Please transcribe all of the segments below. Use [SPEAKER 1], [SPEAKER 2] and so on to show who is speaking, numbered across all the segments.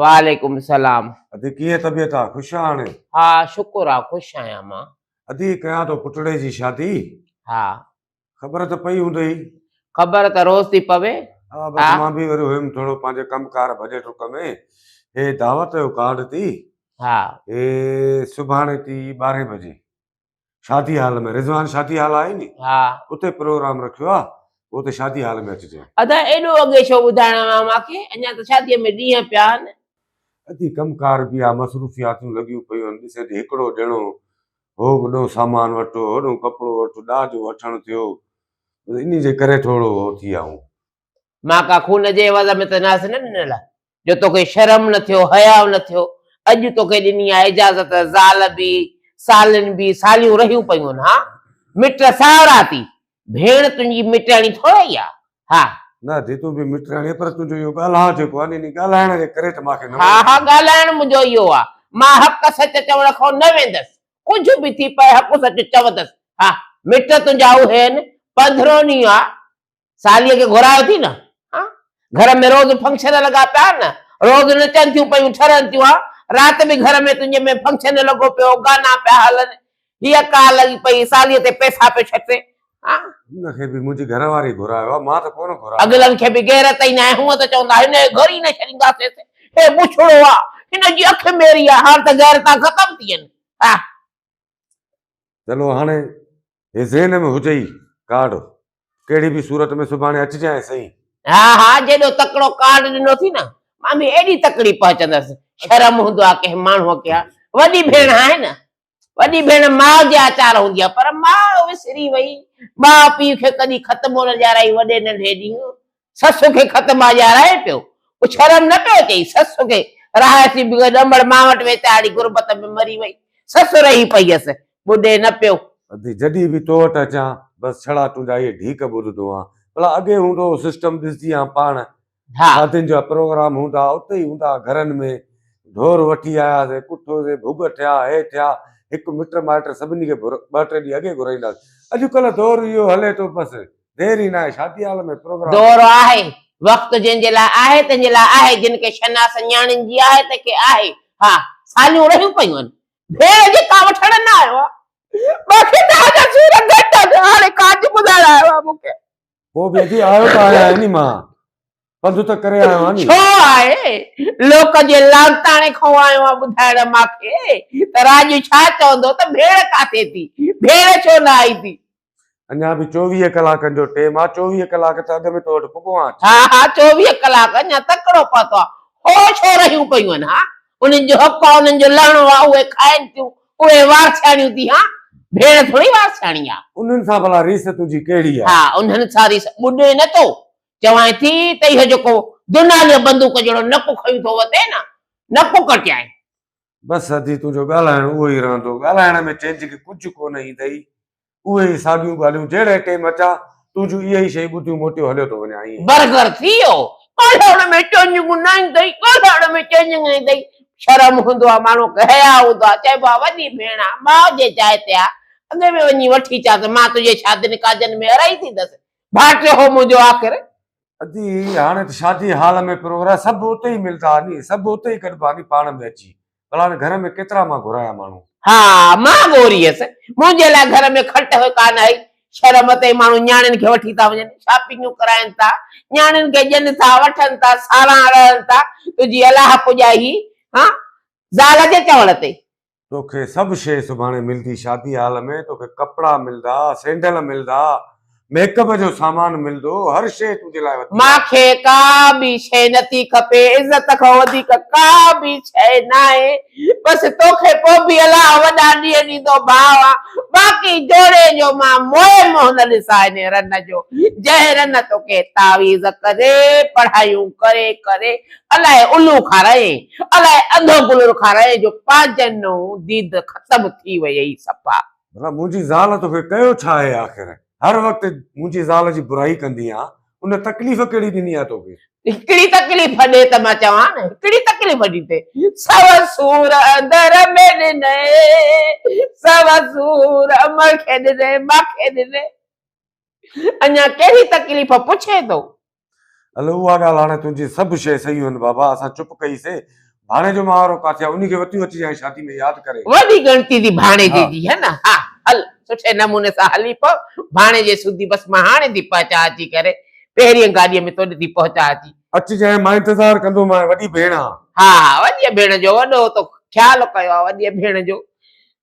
[SPEAKER 1] وعليڪم
[SPEAKER 2] السلام. ادي ڪيئن طبيعت
[SPEAKER 1] آ خوش آ هاڻي. ها شڪر آ
[SPEAKER 2] خوش آهيان مان. ادي ڪيان ٿو
[SPEAKER 1] پٽڙي جي شادي. ها.
[SPEAKER 2] خبر ته
[SPEAKER 1] پئي هوندئي. خبر ته
[SPEAKER 2] روز ٿي پوي. ها بس مان به
[SPEAKER 1] وري هيم ٿورو پنهنجي ڪم ڪار ڀڄي ٽڪ ۾ هي دعوت جو ڪارڊ ٿي. ها. هي سڀاڻي ٿي ٻارهين بجي. شادي حال ۾ رضوان شادي حال آهي ني ها اتي پروگرام رکيو آ اتي شادي حال ۾ اچجي ادا ايڏو اڳي
[SPEAKER 2] ڇو ٻڌائڻو آ مان کي اڃا ته شادي ۾ ڏينهن پيا آهن ادي ڪم
[SPEAKER 1] ڪار به آ مصروفياتون لڳيون پيون آهن ڏسي ته هڪڙو ڄڻو هو به ڏو سامان وٺو هوڏو ڪپڙو وٺو ڏاج وٺڻ ٿيو انهي جي ڪري ٿورو هو ٿي آئون مان ڪا
[SPEAKER 2] خون جي عوض ۾ ته ناس نه ڏنل آ جو توکي شرم نه ٿيو حياء نه ٿيو اڄ توکي ڏني آ اجازت زال بي سالين بي ساليون رهيون پيون ها مٽ ساهرا ٿي ڀيڻ تنهنجي مٽياڻي ٿوري آ ها نه جي تون به
[SPEAKER 1] مٽياڻي پر تنهنجو اهو ڳالهاء جيڪو آ ني ڳالهائڻ جي ڪري ته ماکي نه ها ها ڳالهائڻ منهنجو
[SPEAKER 2] اهو آ مان حق سچ چوڻ کان نه ويندس ڪجهه به ٿي پئي حق سچ چوندس ها مٽ تنهنجا اهي آهن پنڌروني آ ساليء کي گهرايو ٿي نه ها گهر ۾ روز فنڪشن لڳا پيا آهن نه روز نچن ٿيون پيون ٺرن ٿيون ها رات به گهر ۾ تنهنجي ۾ فنڪشن لڳو پيو گانا پيا هلن هيء ڪا لڳي پئي ساليء تي پئسا پيو ڇٽي ها ان کي به منهنجي
[SPEAKER 1] گهر واري گهرايو آهي مان ته ڪونه گهرايو اڳلن کي به غيرت ئي
[SPEAKER 2] ناهي هونء ته چوندا هن کي گهري نه ڇڏينداسين هي بڇڙو آهي هن جي اک ميري آهي هاڻ ته غيرتان ختم ٿي ويون ها
[SPEAKER 1] چلو هاڻي هي ذهن ۾ هجئي ڪارڊ ڪهڙي به صورت ۾ سڀاڻي اچجانء سهي. ها ها جيڏو
[SPEAKER 2] تڪڙو ڪارڊ ڏنو ٿي نه مان به ايڏي تڪڙي پهچندس. شرم هوندو آ ڪنهن ماڻهوء کي ها وڏي ڀيڻ آهي نه. وڏي ڀيڻ ماء جي آچار هوندي آ پر ماء وسري وئي. ماء پيء کي ڪڏهن خط ڪونه ڏيارائي وڏي ننڍي ڏينهن سس کي خط مان ڄاڻائي پيو. هو شرم نه پيو اچيس. سس کي راهي ٿي بيهي ڏمڙ ماء وٽ ويتاڙي غربت ۾ مري وئي. سس رهي پئي هيس. ٻڏي نه پيو. ادي جڏهن به تو
[SPEAKER 1] وٽ اچان بس ڇڙا تنهنجا اهي ڍيڪ ٻڌندو آهيان. ڀلا اڳي هوندو هو سسٽم ڏسجي هان پاڻ ها. شادين جا پروگرام هوندا ها اتي ئي هوندا ها گهرن ۾ ڍور وٺي آياسين ڪٺوسين ڀڳ ٺهيا هي ٺهيا هڪ مٽ مائٽ سڀني کي ٻه ٽي ڏينهن اڳي گهرائينداسين. اڄ ڪلهه دور اهو هلي ٿو بس. دير ئي ناهي شادي هال ۾ پروگرام. دور آهي،
[SPEAKER 2] وقت جنهن جي لاء آهي تنهن جي لاء آهي، جن کي شناس نياڻين جي آهي تنهن کي آهي، ها ساليون رهيون پيون آهن، ڀيڻ جي ڪا وٺڻ نه آيو آ، مان کي ڏاهه جا سور گهٽ آهن، هاڻي ڪاڄ ٻڌائڻ آيو آ مون کي. پوء به ادي
[SPEAKER 1] آيو ته آهيان ني مان. پنڌ ته ڪري آيو آهيان ني. ڇو آهي
[SPEAKER 2] لوڪ جي لاڙتاڻي کئون آيو آهيان ٻڌائڻ ماکي ته راڄ ڇا چوندو ته ڀيڻ ڪاٿي ٿي ڀيڻ ڇو نه آئي ٿي. اڃا به
[SPEAKER 1] چوويهه ڪلاڪن جو ٽيم آ چوويهه ڪلاڪ ته اڳ ۾ تو وٽ پڳو آهيان. ها ها چوويهه
[SPEAKER 2] ڪلاڪ اڃا تڪڙو پاتو آ هو ڇو رهيون پيون آهن ها انهن جو حق آ انهن جو لهڻو آ اهي کائين ٿيون اهي وارسياڻيون ٿي ها ڀيڻ ٿوري وارسياڻي آ. انهن سان ڀلا ريس
[SPEAKER 1] تنهنجي ڪهڙي آ. ها انهن سان ريس
[SPEAKER 2] ٻڏي نه تو چوائين ٿي ته اهو جيڪو دوناليء بندوق جهڙو نڪ کنيو ٿو وتين ها، نڪ ڪٽيائين. بس ادي
[SPEAKER 1] تنهنجو ڳالهائڻ اهو ئي رهندو. ڳالهائڻ ۾ چينج کي ڪجهه ڪونه ايندئي. اهي ئي ساڳيون ڳالهيون جهڙي ٽيم اچا، تنهنجون اهي ئي شيون ٻڌيون موٽيو هليو ٿو وڃان. ائين. برگر ٿي ويو.
[SPEAKER 2] ڳالهائڻ ۾ چينجنگ نه ايندئي، ڳالهائڻ ۾ چينجنگ نه ايندئي. شرم هوندو آ ماڻهوء کي، حياء هوندو آ. چئبو آ وڏي ڀيڻ آ، ماء جي جاء تي آ. اڳي ۾ وڃي وٺي اچان ته مان تنهنجي شادين ڪاڄن ۾ ارهائي ٿيندس. ڀاٽيو هو منهنجو آخر. ادي
[SPEAKER 1] هاڻي ته شادي هال ۾ پروگرام سڀ اتي ئي ملدا ني سڀ اتي ئي گڏبا ني پاڻ ۾ اچي ڀلا هاڻي گهر ۾ ڪيترا مان گهرايان ماڻهو. ها مان
[SPEAKER 2] گهوري هيس منهنجي لاء گهر ۾ کٽ هئي ڪا نه هئي شهر مان تائين ماڻهو نياڻين کي وٺي ٿا وڃن شاپنگون ڪرائين ٿا نياڻين کي ڏين ٿا وٺن ٿا سالان رهن ٿا تنهنجي الاهه پڄائي هي ها زال جي چوڻ تي توکي سڀ
[SPEAKER 1] شيء سڀاڻي ملدي، شادي هال ۾ توکي ڪپڙا ملدا، سينڊل ملدا، ميڪ اپ جو سامان ملدو، هر شيء تنهنجي لاء وڌيڪ آهي. مان کي ڪا
[SPEAKER 2] به شيء نٿي کپي، عزت کان وڌيڪ ڪا به شيء ناهي، بس توکي پوء به الله وڏا ڏينهن ڏيندو ڀاء، باقي جوڙي جو مان موهي منهن نه ڏسان انهي رن جو، جنهن رن توکي تعويذ ڪري، پڙهايون ڪري ڪري الائي الو کارائين. الاء اڌو گل رکارائين جو پاجنون ديد ختم ٿي ويئي صفا. ڀلا منهنجي زال
[SPEAKER 1] توکي ڪيو ڇا آهي آخر؟ هر وقت منهنجي زال جي برائي ڪندي آن. ان تڪليف ڪهڙي ڏني آهي توکي؟ هڪڙي تڪليف
[SPEAKER 2] ڏي ته مان چوان نه هڪڙي تڪليف ڏي ته سو سور اندر ۾ ڏنئي سو سور امڙ کي ڏنئي ماکي ڏنئي اڃا ڪهڙي تڪليف پڇين ٿو؟ الھ
[SPEAKER 1] اها ڳالهه هاڻي تنهنجي سڀ شيء صحيح هن بابا اسان چپ ڪئي سي ڀاڻي جو مهارو ڪاٿي آ انهي کي وتيون اچجي هاڻي شادي ۾ ياد ڪري. وڏي ڳڻتي ٿي
[SPEAKER 2] ڀاڻيجي جي هي نه ها
[SPEAKER 1] هل
[SPEAKER 2] سٺي نموني سان هلي پو ڀاڻيجي سوڌي بس مان هاڻي ٿي پهچان اچي ڪري پهرين گاڏي ۾ توڏي ٿي پهچان اچي. اچجانء مان انتظار
[SPEAKER 1] ڪندو مانء وڏي ڀيڻ آ. ها ها وڏي ڀيڻ
[SPEAKER 2] جو وڏو تو خيال ڪيو آ وڏي ڀيڻ جو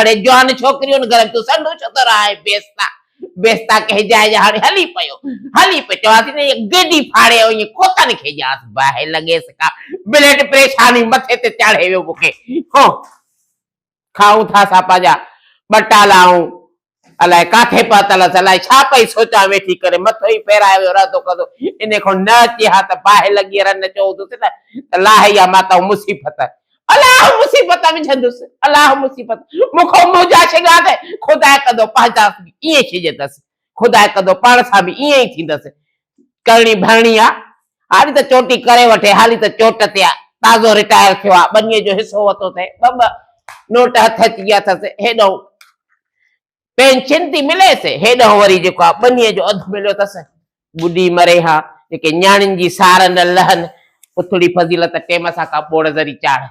[SPEAKER 2] اڙي جوان ڇوڪريون گهر ۾ تون سنڍو ڇو ٿو رهائين بيستا بيستا ڪنهن جاء جا هاڻي هلي پيو هلي پيو چوان ٿي ته گيڊي ڦاڙي اوهين کوتن کي ڄاس باهه لڳيس ڪا بليڊ پريشاني مٿي تي چاڙهي ويو مون کي هو کائون ٿا اسان پنهنجا ٻه ٽالا آئون الائي ڪاٿي پهتل هئس الائي ڇا پئي سوچان ويٺي ڪري مٿو ئي ڦيرائي ويو رهندو ڪندو انهي کان نه اچي ها ته باهه لڳي رن چئون ٿوس نه ته لاهي اها ماتائون مصيبت الاهه مصيبت وجهندس، الاهه مصيبت مون کان منهنجا شگا ته خدا ڪندو پنهنجا به ائين شجهندس، خدا ڪندو پاڻ سان به ائين ئي ٿيندس، ڪرڻي ڀرڻي آ، هاري ته چوٽي ڪري وٺي، هاري ته چوٽ تي آ، تازو رٽائر ٿيو آ، ٻنيء جو حصو وتو اٿئي، ٻه ٻه نوٽ هٿ اچي ويا اٿس، هيڏانهن پين چنتي مليس، هيڏانهن وري جيڪو آ ٻنيء جو اڌ مليو ٿس. ٻڏي مري ها، جيڪي نياڻين جي سار نه لهن، اٿڙي فضيلت ٽيم سان ڪا ٻوڙ ذري چاڙهه.